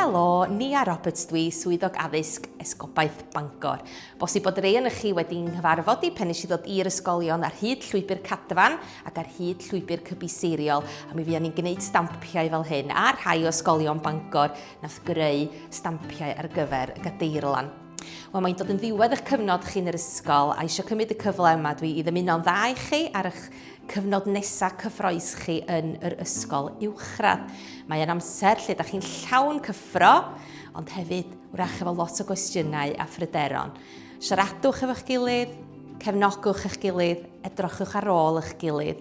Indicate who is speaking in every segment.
Speaker 1: Helo, Nia Roberts dwi, swyddog addysg Esgobaeth Bangor. Bosib bod rei yn chi wedi nghyfarfod i pen i ddod i'r ysgolion ar hyd llwybr cadfan ac ar hyd llwybr cybiseiriol a mi fuon ni'n gwneud stampiau fel hyn ar rhai o ysgolion Bangor Nath greu stampiau ar gyfer y gadeirlan. Wel, mae'n dod yn ddiwedd eich cyfnod chi'n yr ysgol a eisiau cymryd y cyfle yma dwi i ddymuno'n dda i chi ar eich cyfnod nesaf cyffroes chi yn yr ysgol uwchradd. Mae'n amser lle da chi'n llawn cyffro, ond hefyd wrach efo lot o gwestiynau a phryderon. Siaradwch efo'ch gilydd, cefnogwch eich gilydd, edrochwch ar ôl eich gilydd,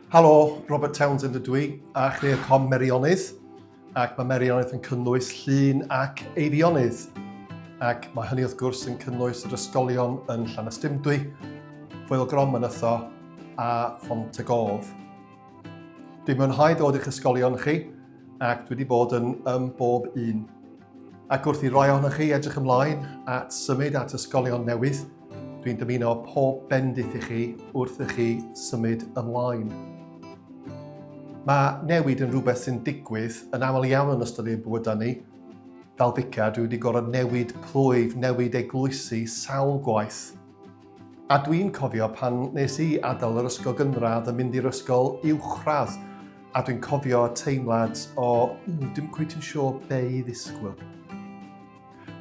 Speaker 1: Helo, Robert Townsend ydw i, a chreir com Merionydd, ac mae Merionydd yn cynnwys llun ac eirionydd. Ac mae hynny wrth gwrs yn cynnwys yr ysgolion yn Llanystumdwy, Foel Grom yn Ytho a Font y Gof. Dwi'n mwynhau dod i'ch ysgolion chi ac dwi wedi bod yn ym bob un. Ac wrth i roi ohonoch chi edrych ymlaen at symud at ysgolion newydd, Dwi'n dymuno pob bendith i chi wrth i chi symud ymlaen. Mae newid yn rhywbeth sy'n digwydd yn aml iawn yn ystod ein bywydau ni. Fel fica, dwi wedi gorfod newid plwyf, newid eglwysi sawl gwaith. A dwi'n cofio pan nes i adael yr ysgol gynradd yn mynd i'r ysgol uwchradd a dwi'n cofio teimlad o, dim cweit yn siŵr be i ddisgwyl.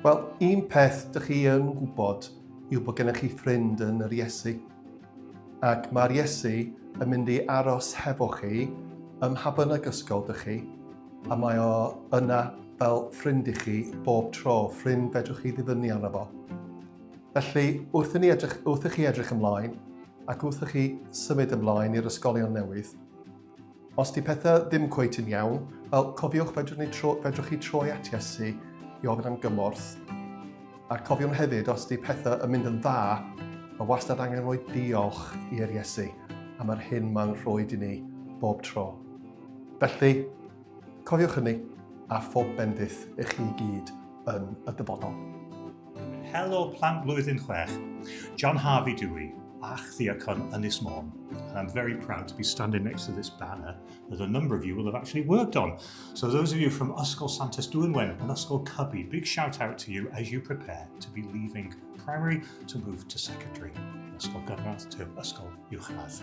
Speaker 1: Wel, un peth dych chi yn gwybod yw bod gennych chi ffrind yn yr Iesu. Ac mae'r Iesu yn mynd i aros hefo chi ym mha bynnag ysgol dych chi, a mae o yna fel ffrind i chi bob tro, ffrind fedrwch chi ddibynu arno fo. Felly, wrth i, ni edrych, wrth i chi edrych ymlaen ac wrth i chi symud ymlaen i'r ysgolion newydd, Os di pethau ddim cweit yn iawn, wel, cofiwch fedrwch, ni tro, fedrwch chi troi at Iesu i ofyn am gymorth. A cofiwn hefyd, os di pethau yn mynd yn dda, mae wastad angen rhoi diolch i'r Iesu am yr hyn mae'n rhoi i ni bob tro. Felly, Cofiwch hynny, a phob bendith i chi i gyd yn y dyfodol. Helo plant blwyddyn chwech, John Harvey Dewey, a'ch ddiacon Ynys Môn. And I'm very proud to be standing next to this banner that a number of you will have actually worked on. So those of you from Ysgol Santes Dwynwen and Ysgol Cubby, big shout out to you as you prepare to be leaving primary to move to secondary. Ysgol Gynradd to Ysgol Uwchradd.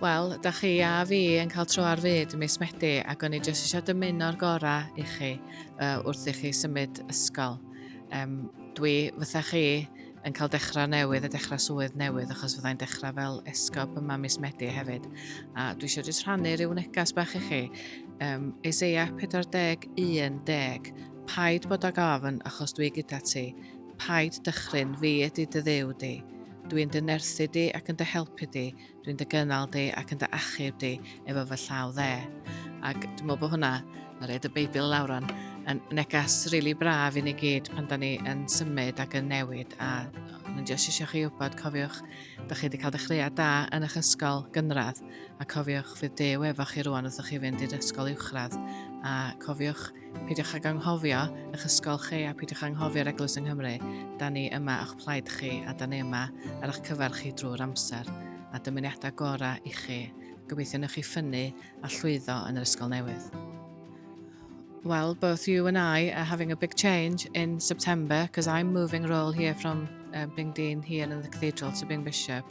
Speaker 1: Wel, da chi a fi yn cael tro ar fyd mis Medi ac o'n i jyst eisiau dymuno'r gorau i chi uh, wrth i chi symud ysgol. Um, dwi, fytha chi, yn cael dechrau newydd a dechrau swydd newydd achos fyddai'n dechrau fel esgob yma mis Medi hefyd. A dwi eisiau jyst rhannu rhyw negas bach i chi. Um, Isaiah 41 deg. Paid bod ag ofn achos dwi gyda ti. Paid dychryn, fi ydy dy ddew di. Dw i'n dy nyrsy di ac yn dy helpu di, dw i'n dy gynnal di ac yn dy achub di efo fy llaw dde. Ac dwi'n meddwl bod hwnna, na red y Beibl lawr o'n, yn negas rili really braf i ni gyd pan da ni yn symud ac yn newid. A dwi'n just eisiau chi wybod, cofiwch, da chi wedi cael dechreuad da yn eich ysgol gynradd, a cofiwch fydd dew efo chi rwan wrth chi fynd i'r ysgol uwchradd. A cofiwch, Peidiwch ag anghofio eich ysgol chi a peidiwch anghofio'r Eglwys yng Nghymru. Da ni yma o'ch plaid chi a da ni yma ar eich cyfer chi drwy'r amser. A dymuniadau gorau i chi. Gobeithio newch chi ffynnu a llwyddo yn yr ysgol newydd. Well, both you and I are having a big change in September because I'm moving role here from uh, being dean here in the cathedral to being bishop.